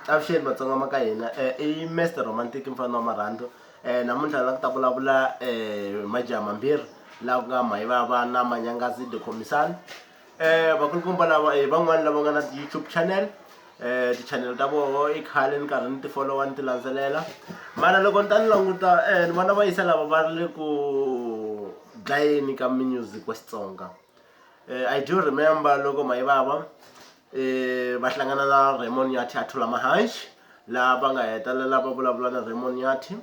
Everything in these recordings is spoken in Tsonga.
Avuxeni matsonga ma ka hina i Mister Romantic mufana wa marhandzu namuntlha ni lava ku ta vulavula hi majaha mambirhi laha ku nga Mayivava na Manyangazi the Khomixana vakulukumba lava hi van'wani lava nga na YouTube channel tichanele ta voho i khale ni karhi ni ti folowa ni ti landzelela mara loko ni ta ni languta ni vona va yisa lava va ri le ku dlayeni ka music wa Xitsonga. Eh, I do remember loko Mayibaba eh, va hlangana na Raymond Nyathi a thula mahanxi laha va nga hetelela va vulavula na Raymond Nyathi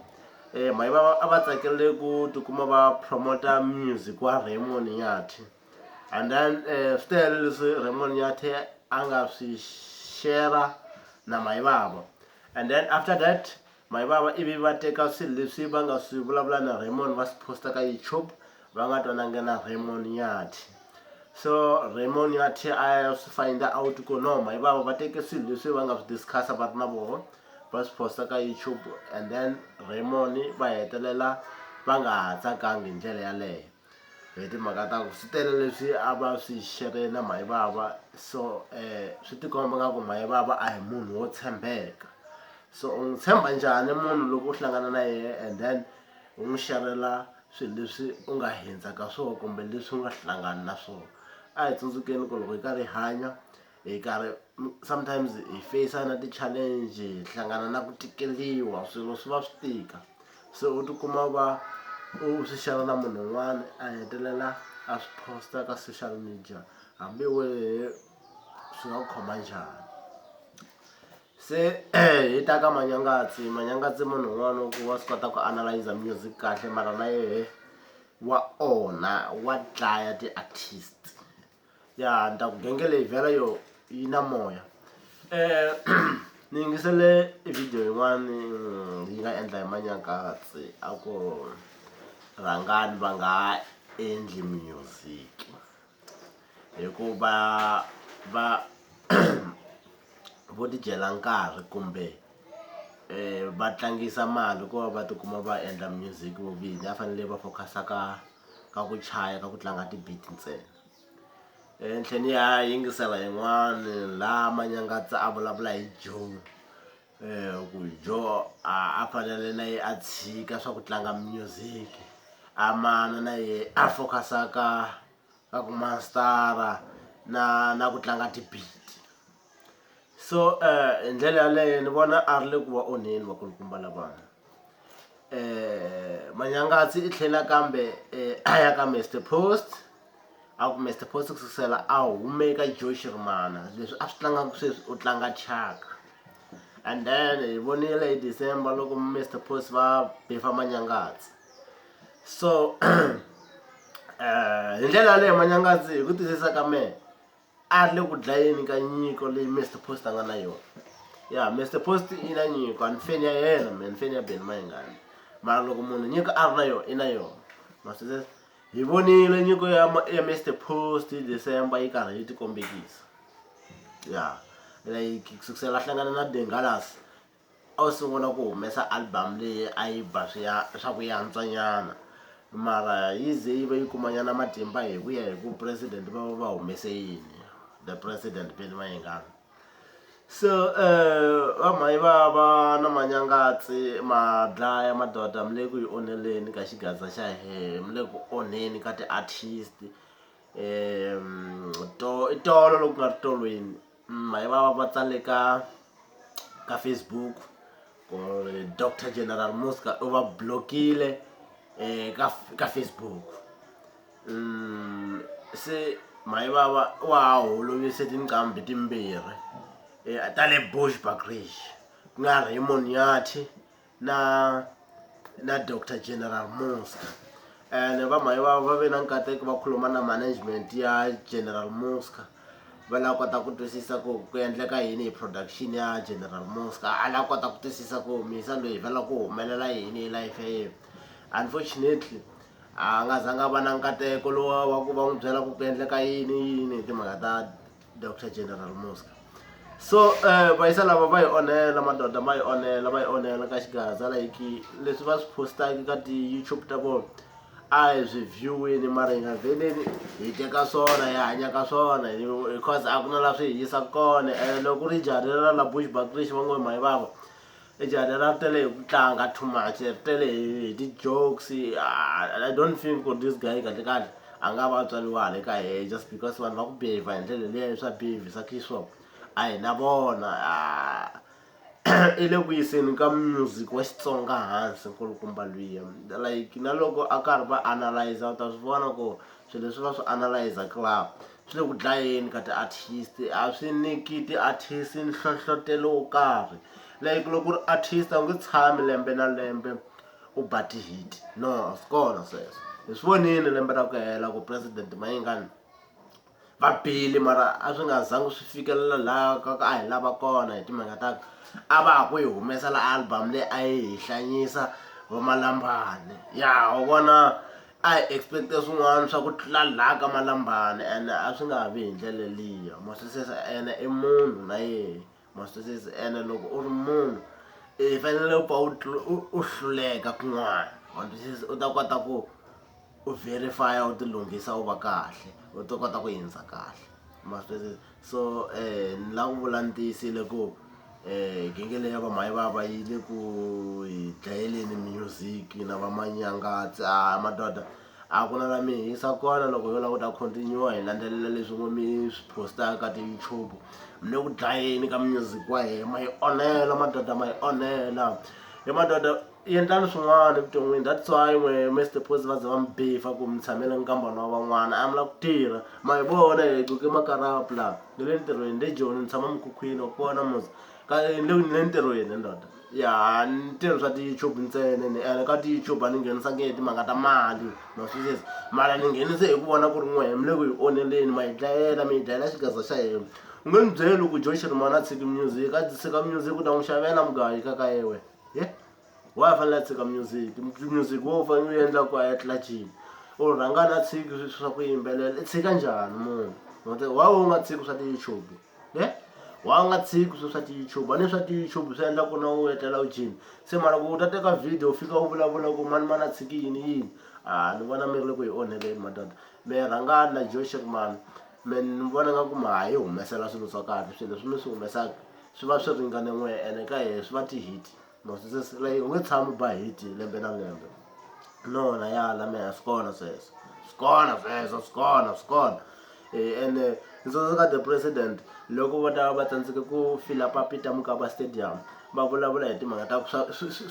eh, Mayibaba a va tsakele ku tikuma va promota music wa Raymond Nyathi and then eh, swi tele leswi Raymond Nyathi a nga swi shera na Mayibaba and then after that Maivava ivi va teka swilo leswi va nga swi vulavula na Raymond va swi posta ka YouTube va nga twanangi na Raymond Nyathi so Raymond Nyathi a ya swi find out ku no Maivava va teke swilo leswi va nga swi discussa va ri na voho va swi posta ka YouTube and then Raymond va hetelela va nga ha tsakangi hi ndlela yaleyo hi timhaka ta ku swi tele leswi a va swi xerhe na mhani vava so um swi tikomba nga ku mhani vava a hi munhu wo tshembeka so u n'wi tshemba njhani munhu loko u hlangana na yena and then u n'wi xerhela swilo leswi u nga hundza ka swona kumbe leswi u nga hlangani na swona a hi tsundzukeni ku loko hi karhi hi hanya hi karhi sometimes hi face na ti-challenge hi hlangana na ku tikeliwa swilo swi va swi tika se u tikuma u va u swi share na munhu un'wana a hetelela a swi post-a ka social media hambi wehe swi nga ku khoma njhani se hi ta ka manyangatsi manyangatsi munhu un'wana wa ku wa swi kota ku analyze music kahle mara na yehe wa onha wa dlaya ti-artist. ya ni ta ku genge leyi vhela yo yi na moya um ni yingisele video yin'wani mm, yi nga endla hi manyankatsi a ku rhangani va nga ha endli music hikuva va vo tidyela nkarhi kumbe um va tlangisa mali ku va va tikuma va endla music vo vini a fanele va focus-a ka ka ku chaya ka ku tlanga ti-beat ntsena ehenhleni ya yingisela yin'wani la manyangatsa a vulavula hi joe um ku joe a a fanele na ye a tshika swa ku tlanga music a mana na ye a focus-a ka ka ku mastara na na ku tlanga ti-beat. so hi ndlela yaleyo ni vona a ri le ku va onheni vakulukumba lavana um manyangatsi i tlhela kambe um a ya ka mister post a ku mister post ku sukusela a hume ka joe xirimana leswi a swi tlangaka sweswi u tlanga chaka and then hi vonile hi december loko mister post va befa manyangatsi so um hi ndlela yaleyo manyangatsi hi ku twisisa ka mehe a ri le ku dlayeni ka nyiko leyi Mister Post a nga na yona ya Mister Post i na nyiko a ni feni ya yena mina ni feni ya Benny Mayengani mara loko munhu nyiko a ri na yona i na yona masizes hi vonile nyiko ya ya Mister Post December yi karhi yi ti kombekisa ya like kusukisela a hlangana na Bengalas A wu sungula ku humesa album leyi a yi ba swi ya swa ku yantswa nyana mara yi ze yi va yi kuma nyana matimba hi ku ya hi ku president va va va humese yini the president Billy Mayengani so eh va mhani va va na manyangatsi ma dlaya madoda mi le ku yi onheleni ka xigaza xa hehe mi le ku onheni ka ti-artist um to i tolo loku nga ri tolweni. Mhaiva va tsale ka ka Facebook ku ri Doctor General Muzka u va block-ile ka ka Facebook se Mhayivava wa ha holovise tinqambi timbirhi ta le Bushbuckridge ku nga Raymond Nyathi na na dr general muska and vamhayi va va ve na nkateko va khuluma na management ya general muska va lava kota ku twisisa ku ku endleka yini hi production ya general muska a lava kota ku twisisa ku misa loyi va lava ku humelela yini hi life ya yena unfortunately a nga zanga va na nkateko lowa wa ku va n'wi byela ku ku endleka yini yini hi timhaka ta dr general muska so um va yisa lava va yi onhela madoda ma yi onhela va yi onhela ka xigaza like leswi va swi postaki ka ti-youtube ta vona a hi swi view-ini mara hi nga veneni hi teka swona hi hanya ka swona because a ku na la swi hi yisa kona and loko ku ri jari ra la bush bakrish va ngo hi mayi vava E jahha ra tele hi ku tlanga too much ri tele hi hi ti-jokes I don't think ku ri this guy kahlekahle a nga va a tswariwa hala ka hehe just because vanhu va ku behave hi ndlela liya swa behavisa so a hi na vona i le ku yiseni ka music wa Xitsonga hansi nkulukumba luya like na loko a karhi va analyser u ta swi vona ku swilo leswi va swi analyzaka . swi le ku dlayeni ka ti-artist a swi nyiki ti-artist nhlohlotelo wo karhi like loko ku ri artist a wu nge tshami lembe na lembe u ba ti-hit no a swi kona sweswo hi swi vonile lembe ra ku hela ku president mayingani va bile mara a swi nga zangi swi fikelela laha ka ka a hi lava kona hi timhaka ta ku a va ha ku yi humesela album leyi a yi hi hlanyisa vomalambani ya u vona a hi expect-e swin'wana swa ku tlula la ka malambani ene a swi nga ha vi hi ndlela liya ma swi twisisa ene i munhu na yehe ma swi twisisa ene loko u ri munhu i fanele u pfa u tlu- u- u hluleka kun'wana ma twisisa u ta kota ku u verify-a u ti lunghisa u va kahle u ta kota ku hundza kahle ma swi twisisa so ni lava ku vula ni tiyisile ku genge leyi ya vamhayivava yi le ku hi dlayeleni music na vamanyangatsi a madoda a ku na la mi hisa kona loko yo lava ku ta continue hi landzelela leswi ngo mi swi postaka ka ti-youtube mi le ku dlayeni ka music wa hina ma hi onhela madoda ma hi onhela hi madoda endlani swin'wana evuton'wini that's why n'we mr pos va za va mi bifa ku mi tshamela nkambana wa van'wana a mi la ku tirha ma hi vona hi coke makarapu laha ni le ntirhweni le joni ni tshama mukhukhwini wa kona musa ka ni le ni le ntirhweni ndoda ya ni tirhi swa ti-youtube ntsena ni ene ka ti-youtube a ni nghenisanga hi timhaka ta mali ma swi xiza mara ni nghenise hi ku vona ku ri n'wehe mi le ku hi onheleni ma hi dlayela mi hi dlayela xigaza xa hina u nge ni byeli ku joy xirimana a tshiki music a tshika music u ta n'wi xavela mugayi ka ka yewe Yeah? wa fanele a tshika music music wo fanele u endla ku a ya tlilacini u rhanga na tshiki swa ku yimbelela i tshika njhani munhu wa u nga tshiki swa ti-youtube ye wa nga tshiki swi swa ti-youtube a ni swa ti-youtube swi endla ku na u etlela u jini se mara ku u ta teka video u fika u vulavula ku mani mani a tshiki yini yini a ni vona mi ri le ku yi onheleni madoda mi rhangani na joshek mani mi ni vona nga ku ma ha yi humesela swilo swa kahle swilo leswi mi swi humesaka swi va swi ringane n'we ene ka yehe swi va ti-hit mo swesweswi like u nge tshami u ba hit lembe na lembe no na ya la mehe swi kona sweswo swi kona sweswo swi kona swi kona um ene ni tsundzuka the president loko va ta va tsandzeke ku fila papita mukaba stadium va vulavula hi timhaka ta ku swa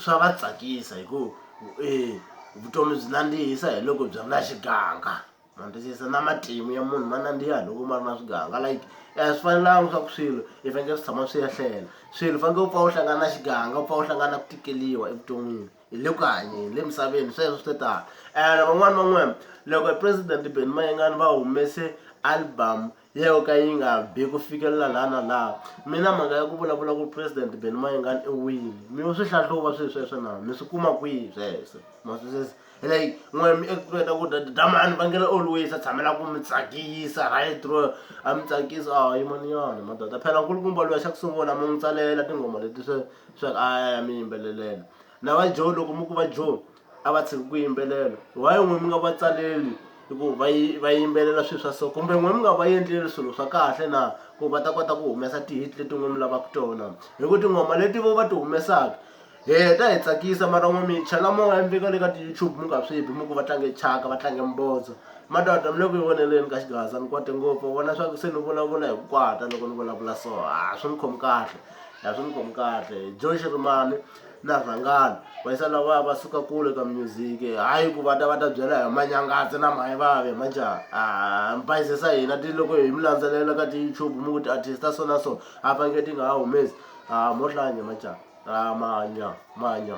swa va tsakisa hikuva um vutomi byi nandzihisa hi loko byi ri na xiganga ma ni twisisa na matimu ya munhu ma nandziha loko ma ri na swiganga like a swi fanelanga swa ku swilo i fanekele swi tshama swi ya hlela swilo u fanekele u pfa u hlangana na xiganga u pfa u hlangana na ku tikeliwa evuton'wini hi le ku hanyeni le misaveni sweswo swi tano ene van'wani van'wani loko president Ben Mayengani va humese album yo ka yi nga bi ku fikelela laha na laha mina mhaka ya ku vulavula ku president beni mayengani i wini mi yo swi hlahluva swilo sweswo na mi swi kuma kwihi sweswo maswisisa like n'we mi expect ku dya dyamani va nge le always a tshamela ku mi tsakisa right ro a mi tsakisa a ah, yimaniyani madoda phela nkulukumba loyi xa ku sungula mi n'wi tsalela tinghoma leti swe swa a ya mi yimbelelela na va joe loko mi ku va joe a va tshiki ku yimbelela why n'we mi nga va tsaleli hi ku va yi va yimbelela swilo swa so kumbe n'we mi nga va endleli swilo swa kahle na ku va ta kota ku humesa tihit leti n'we mi lavaka tona hi ku tinghoma leti vo va ti humesaka hi heta hi tsakisa mara n'we mi chela moya mi veka le ka ti-youtube mi nga swi bi mi ku va tlange chaka va tlange mbotso madoda mi le ku yi voneleni ka xigaza ni kwate ngopfu vona swa ku se ni vulavula hi ku kwata loko ni vulavula so a swi ni khomi kahle a swi ni khomi kahle joe xirimani na vhangani va yisa lavaya va suka kule ka music hayi ku va ta va ta byela hi manyangazi na mayivavi manjhani a mi bayizisa hina ti loko hi mi landzelela ka ti-youtube mi ku ti-artist ta so na so a va nge ti nga ha humesi a mo hlanya manjhani a manya manya